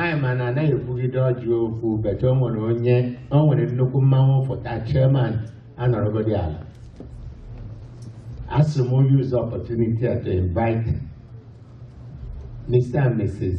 anyị ma na anaghị ekwugide ọjị okwu but o nwere onye o nwere nnukwu mmanwụ fụta chairman anọrọgodi ala asị m use opportunity to invite Mr. and Mrs.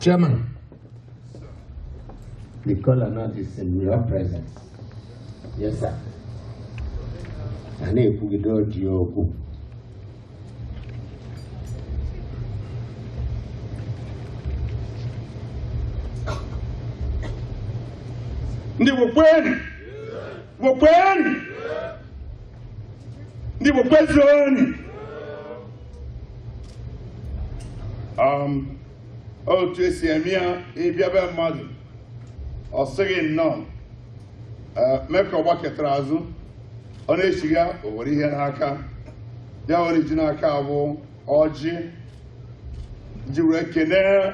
Chairman, the kolanut is in your presence. Yes, sir. A na-ekwugide ọjị okwu. Ndị Igbo kwenu! Igbo kwenu! ndị Igbo kwezuonu um, otu esi eme ya ị bịa be mmadụ ọ sị gị nnọọ eh, mee ka ọ gbakụtara azụ ọ na-echigha o were ihe n'aka ya were ji n'aka bụ ọjị ji were kenee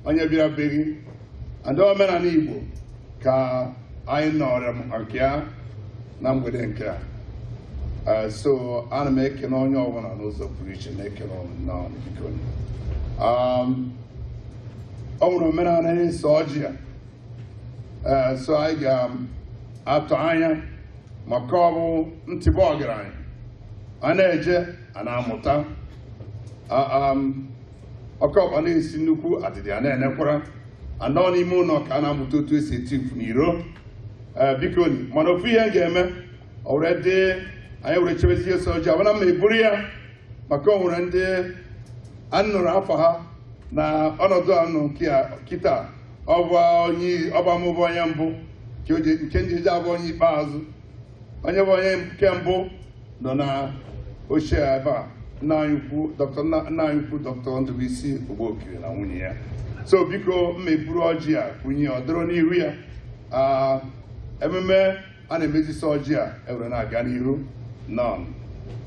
onye bịara be gị and omenala Igbo ka anyị nọrọ nke ya na mgbede nke a eh, so ana m ekene onye ọbụla n'ụzọ pụrụ iche na-ekene unu nnọọ biko um, o nwere omenala na-eso ọjị a eh, so anyị ga-atụ anya maka ọ bụ ntịba ọgaranya a na-eje a na-amụta um, oke ọkpa na-esi nnekwu adịdị a na-enekwara a nọ n'ime ụnọ ka a na-amụta otu esi eti mfu n'iro ee bikoni mana ofu ihe m ga-eme ọ were dị anyị were chebezie sị ọjị a bana ma eburu ya maka o nwere ndị a nụrụ afọ ha na ọnọdụ a nọ kịta ọ ba mụ bụ onye mbụ nke m jizi abụ onye ikpeazụ onye bụ onye nke mbụ nọ na oche ebe a nna anyị ukwu doctor Ndụbụisi Ogbokiri na nwunye ya so biko mma eburu ọjị a kwunye ọ dọrọ n'ihu ya Ah, ememe a na-emezisi ọjị a ewere na-aga n'ihu nnọọ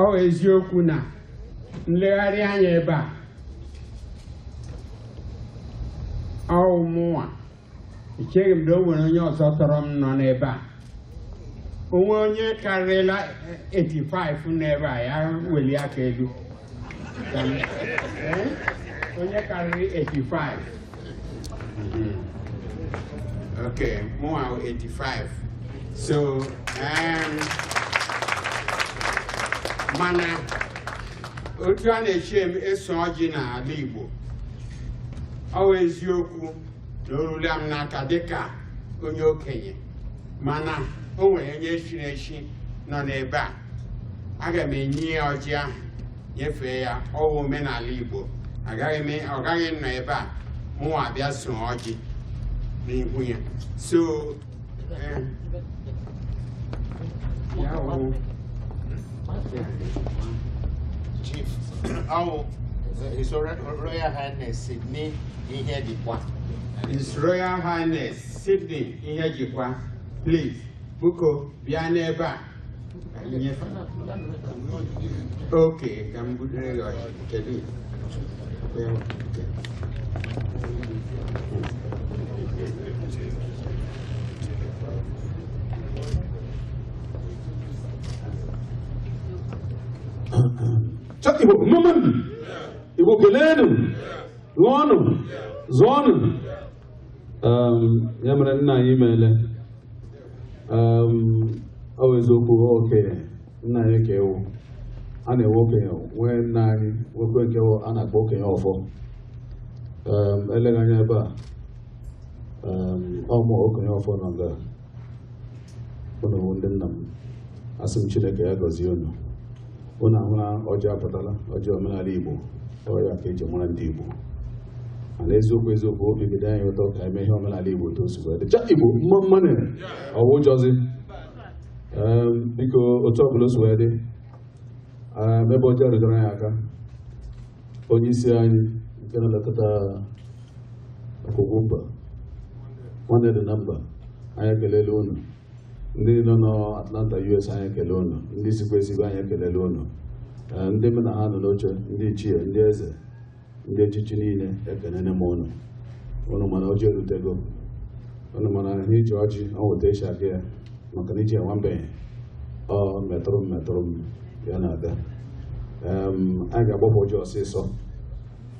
ọwụ eziokwu na m legharịa anya ebe a ọwụ mụnwa echeghị m na o nwere onye ọzọ tọrọ m nọ n'ebe a o nwee onye karịrịla 85 n'ebe a ya welie aka elu onye karịrị 85 ok mụwa 85 so um, mana otu a na-esi eso ọjị n'ala Igbo ọ bụ eziokwu na o rula m n'aka dịka onye okenye mana o nwere onye chiri echi nọ n'ebe a aga m enye ya ọjị ahụ nyefee ya ọ wụ omenala Igbo ọ gaghị anọ ebe a mụnwa abịa so ọjị n'ihu ya so eh, Chief, ọ wụ His Royal Highness Sydney Ihejikwa. His Royal Highness Sydney Ihejikwa, please, biko bịa n'ebe a. okay ka m budere gị ọjị kedu ya nke Cha Igbo mmanụ Igbo keleenụ lụọnụ zụọnụ Um, ya mere nna anyị meele um, ọ bụ eziokwu okenye nna anyị ka ewu a na-enwe okenye nwee nna anyị nwekwe nke wụ a na-akpọ okenye ọfọ um, eleghị anya ebe a um, ọ wụ mụ okenye ọfọ nọ nga unu ndị nna m asị m chineke ya gọzie unu unu ahụla ọjị apụtala ọjị omenala igbo ọ ya ka eji mara ndị igbo mana eziokwu eziokwu obi dị anyị ụtọ ka eme ihe omenala igbo otu o si wee dị cha igbo mma mmanụ ọ wụ ụjọzi Em, biko otu ọbụla o si wee dị em, ebe ọjị rutoro anyị aka onye isi anyị nke na-elekọta akwụkwọ mba nwanne dị na mba anyị ekelele unu ndị nọ n'Atlanta US anyị ekele unu ndị sikwa esigbo anyị ekelele unu Ee, ndị mụ na ha nọ n'oche ndị ichie ndị eze ndị echichi niile ekelele m unu unu ma na ọjị erutego unu ma na ihe eji ọjị o weta isi aka ya maka na iji enwa mbenye ọ metụrụ m metụrụ m ya na-aga Em, anyị ga-agbapụ ọjị ọsịịsọ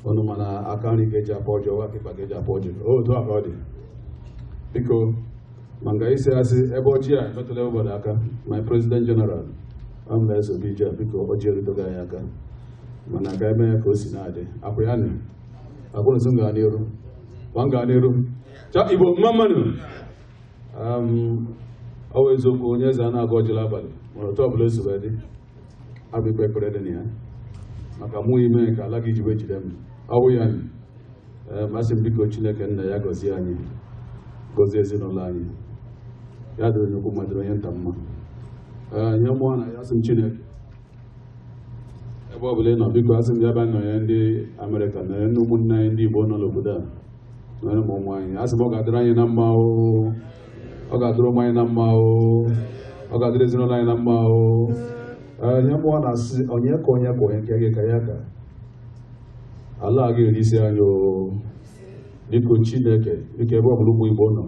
unu ma na aka nri ka eji akpa ọjị ọ wụ aka ịkpa ka eji akpa ọjị o otu a ka ọ dị biko ma nga isi asị ebe ọjị a emetụla obodo aka my president general ọ mba esobe ije biko ọjị erutogo anyị aka mana ka eme ya ka o si na-adị akwụ ya nị akwụrụ sị m gaa n'iru ma m gaa n'iru cha igbo mma mmanụ ọ bụ eziokwu onye eze a na-agọ ọjị n'abalị mana otu ọbụla o si wee dị a bịa kpee ekpere dị na ya maka mụ ime ka ala gị jiwe jide m ọ wụ ya anyị ee ma asị m biko chineke nna ya gọzie anyị gọzie ezinụlọ anyị ya dịrị onye ukwu ma dịrị onye nta mma ihe mụwa na ya sị m chineke ebe ọ bụla ị nọ biko asị m ya bịa nọnye ndị amerịka nọnye ndị ụmụnne anyị ndị igbo nọ n'obodo a nọnye ma ụmụ anyị asị m ọ ga-adịrị anyị na mma oo ọ ga-adịrị ụmụ anyị na mma o ọ ga-adịrị ezinụlọ anyị na mma o Ee, ihe mụwa na-asị onye ka onye ka onye nke gị ka ya ka ala a ga-eri isi anyị o biko chineke biko ebe ọbụla ụmụ igbo nọ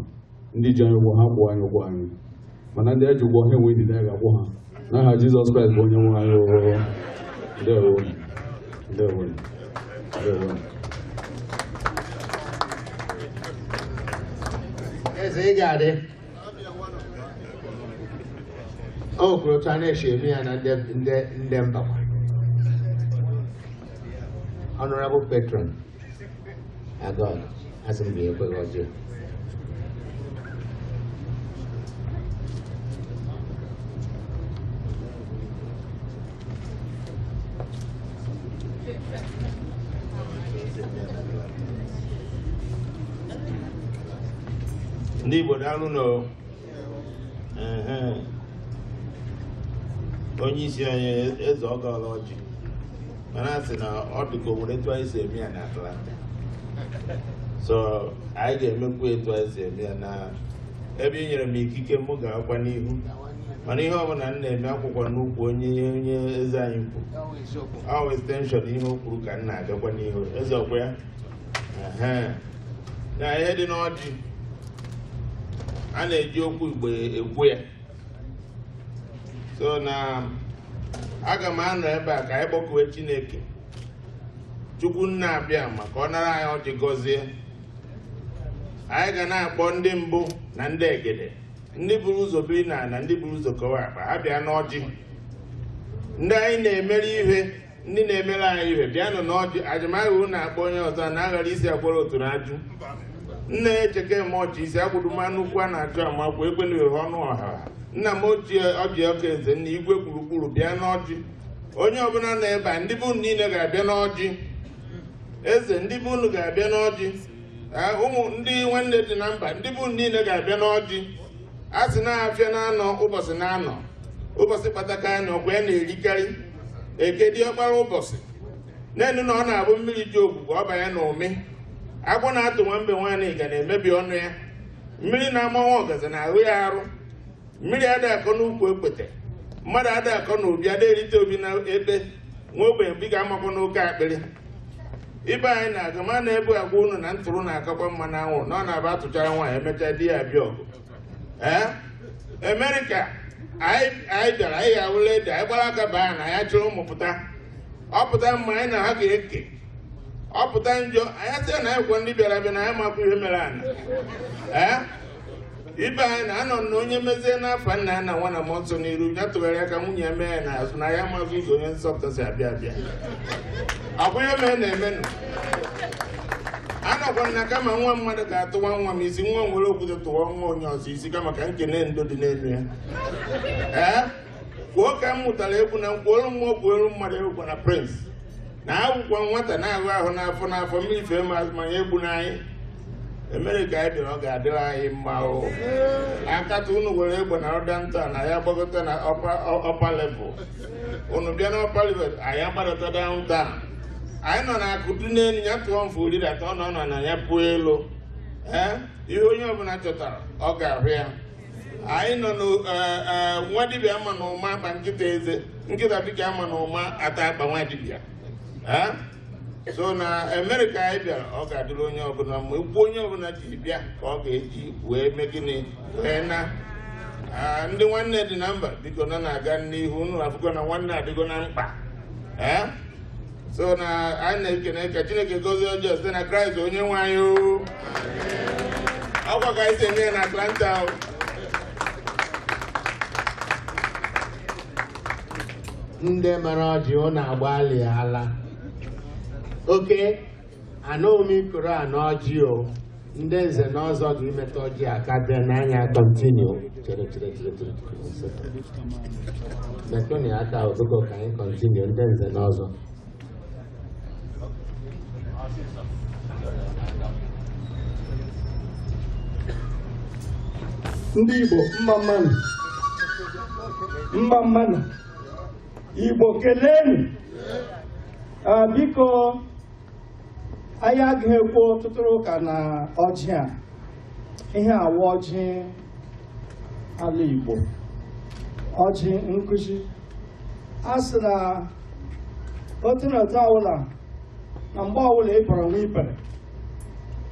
ndị ji anyị ụgwọ ha kwụọ anyị ụgwọ anyị mana ndị e ji ụgwọ ha enwe ndidi anyị ga-akwụ ha n'aha Jizọs Kraịst bụ onye nwe anyị oo. Ndewo. Ndewo. Ndewo. eze ị ga-adị o kwuru otu a na-esi eme ya na ndị ndị ndị mbakwa honorable patron agọọ asị m gị ekweghị ọjọọ ndị Igbo daalụ nụ onye isi anyị eze agọọla ọjị mana a sị na ọ dị ka o nwere etu anyị si eme ya na Atlanta so anyị ga-emekwu etu anyị si eme ya na ebe ị nyere m ikike m gaakwa n'ihu mana ihe ọbụla m na-eme akwụkwa n'ụkwụ onye onye eze anyị kwu ọ extension ihe o kwuru ka m na-agakwa n'ihu eze ọkwa ya na ihe dị n'ọjị a na-eji okwu igbo ekwu ya so na aga m anọ ebe a ka anyị kpọkuwe chineke chukwu nna abịama ka ọ nara anyị ọjị gọzie anyị ga na-akpọ ndị mbụ na ndị egede ndị buru ụzọ biri na na ndị buru ụzọ kowe akpa ha bịa n'ọjị ndị anyị na-emere ihe ndị na-emere anyị ihe bịanụ n'ọjị ajụmahịa unu na-akpọ onye ọzọ a na-aghara isi akwara oturu ajụ nna ya echeke m ọchị isi akwụduma nnukwu a na-achụ amakwụ ekwena ohe ọnụ ọha nna m ochie ọbịa ọka eze nna igwe gburugburu bịa n'ọjị onye ọbụla nọ ebe a ndị be unu niile ga-abịa n'ọjị eze ndị be unu ga-abịa n'ọjị Ah, ụmụ ndị nwanne dị na mba ndị be unu niile ga-abịa n'ọjị a sị na afịa naanọ ụbọchị naanọ ụbọchị kpataka anọ kwa ya na-erikarị eke dị ọkpara ụbọchị na-enu na ọ na-abụ mmiri ji ogbugbo ọ banye na ụmị agwọ na-atụ nwa mbe nwaanyị ga na-emebi ọnụ ya mmiri na-ama nwa ọgazi na-awụ ya arụ mmiri ada akọ n'ukwu okpete mmadụ ada akọ na obi ada erite obi na ebe nwa ogbenye bi ga-amakwa n'oke akpịrị ibe anyị na-aga ma na-ebu agwa unu na ntụrụ na-akakwa mma na anwụrụ na ọ na-abụ atụchara nwaanyị emechaa di ya abịa ọgụ ee amerịka anyị anyị bịara anyị awụla ede anyị gbara aka baa na ya chụrụ ụmụ pụta ọ pụta mma anyị na ha ga-eke ọ pụta njọ anyị sị na anyị kwọ ndị bịara abịa na anyị makwa ihe mere ana ee ibe anyị na anọ na onye mezie n'afa nna ya na nwa na mmụọ nsọ n'iru ya tụgharịa aka nwunye ya mee ya n'azụ na ya amazị ụzọ onye nsọpụta si abịa abịa ọkwa ihe mere na-emenụ anọkwa m na kama nwa mmadụ ga-atụwa nwa m isi nwa m were okwute tụwa nwa onye ọzọ isi kama ka nkene ndo dị n'elu ya ee kwuo ka m mụtara ekwu na m kwuolu mmụọ kwuolu mmadụ egwu na prince na akwụkwọ nwata na-ahụ ahụ n'afọ n'afọ mmiri fee ma azụmanya egbu n'anyị amerịka anyị bịara ọ ga-adịrị anyị mma o akata unu were egbe na downtown anyị agbagota na upper level unu bịa na upper level anyị agbadata downtown anyị nọ na akụ dị n'elu ya tụọ mfe ọ ridata ọ nọ n'ana ya pụọ elu ee ihe onye ọbụla chọtara ọ ga-ahụ ya anyị nọ na eh, eh, nwa dibịa ama na ụma akpa nkịta eze nkịta dịka ama na ụma ata akpa nwa dibịa ee so na amerịka anyị bịara ọ ga-adịrị onye ọbụla mma ụkwụ onye ọbụla ji bịa ka ọ ga-eji wee mee gịnị wee naa Ah, ndị nwanne dị na mba biko na na-aga n'ihu unu afụgo na nwanne adịgo na mkpa Eh? so na anyị na-ekene ka chineke gozie ọjị a site na kraịst onye nwe anyị o. ọkwa ka anyị si eme ya na atlanta o. ndị mara ọjị ụnụ agbalịala oke anụghị m ikoro a n'ọjị o ndị nze na ọzọ ga-imetụ ọjị aka dị n'anya continue chere chere chere chere chere. metụnụ ya aka ụtụkọ ka anyị continue ndị nze na ọzọ ndị Igbo mma mmanụ mma mmanụ Igbo kelenu ah, biko anyị agaghị ekwu ọtụtụ ụka na ọjị a ihe a wụ ọjị ala Igbo ọjị nkụzi a sị na otu na otu ọbụla na mgbe ọbụla ị bọrọ nwa ibere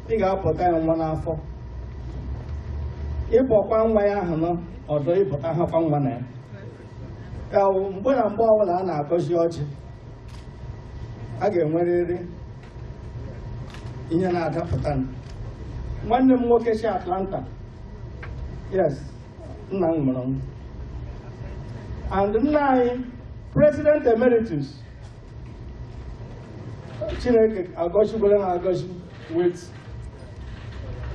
ị ga-abọta ya nwa n'afọ ị bọkwa nwa ya ahụ nọ ọdụ ị bọta hakwa nwa na ya ka wụ mgbe na mgbe ọbụla a na-agọzi ọjị a ga-enwerịrị ihe na-adapụta nwanne m nwoke si Atlanta yes nna m mụrụ m and nna anyị president emeritus chineke agọziela ha agọzi with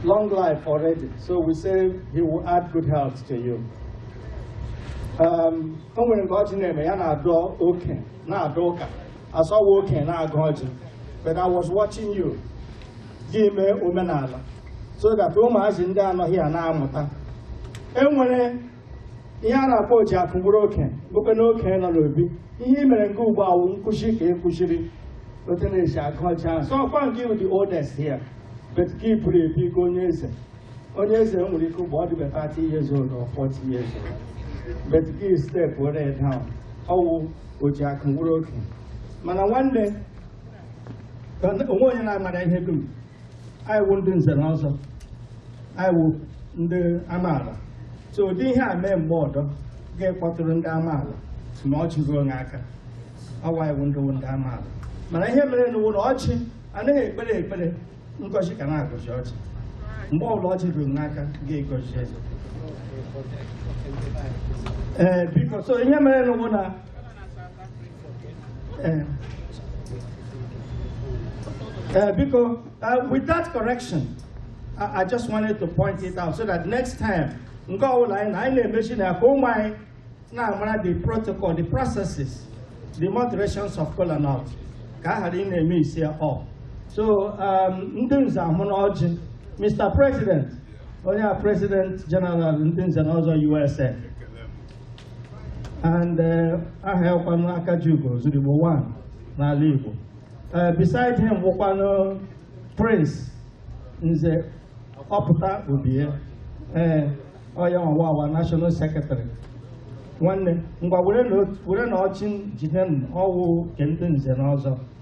long life already so we say he will add good health to you um, o nwere nke ọjị na-eme ya na-adọ oke na-adọ ụka asọwa oke na-agọ ọjị but i was watching you ji eme omenala so that ụmụazị ndị a nọ here na-amụta e nwere ihe a na-akpọ ọjị akụ mkpụrụ oke bụkwa n'oke nọ n'obi ihe i mere nke ugbu a wụ nkuzi ka i kuziri and it's a culture so ọkwa nke ị wụ the oldest here but ka ị pụrụ ebi ka onye eze onye eze nwere ike ụgbọ ọ dịbe 30 years old or 40 years old but ka ị stepụrụ down ọ wụ ọjị akụ mkpụrụ oke mana nwanne ka o nweghị onye na-amara ihe dum anyị wụ ndị nze na ọzọ anyị wụ ndị amaala so ụdị ihe a mee mgbe ọdọ ka ị kpọtụrụ ndị amaala ma ọjị ruo onye aka ọ wụ anyị wụ ndị wụ ndị amaala mana ihe mere nụ wụ na ọjị anaghị ekpere ekpere ngọzi ka a na-agọzi ọjị mgbe ọbụla ọjị ruru n'aka ka ị gọzie eze ee biko so ihe mere nụ wụ na Eh. Eh, because uh, with that correction, I, I, just wanted to point it out so that next time, mgbe ọbụla anyị na anyị na-emechi na ka ụmụ anyị na-amara the protocol, the processes, the moderations of kola nut ka a ghara ị na-eme isi ọ. So um, ndị nze ahụna ọjị, Mr. President, onye a President General ndị nze na ọzọ USA. and uh, aha ya wụkwanụ Akajiugo Ozuruigbo one n'ala Igbo uh, beside him wụkwanụ Prince Nze Ọpụta Obie ee uh, ọ ya nwa wụ our National Secretary nwanne ngwa werenụ ọjị jide ọ wụ nke ndị nze na ọzọ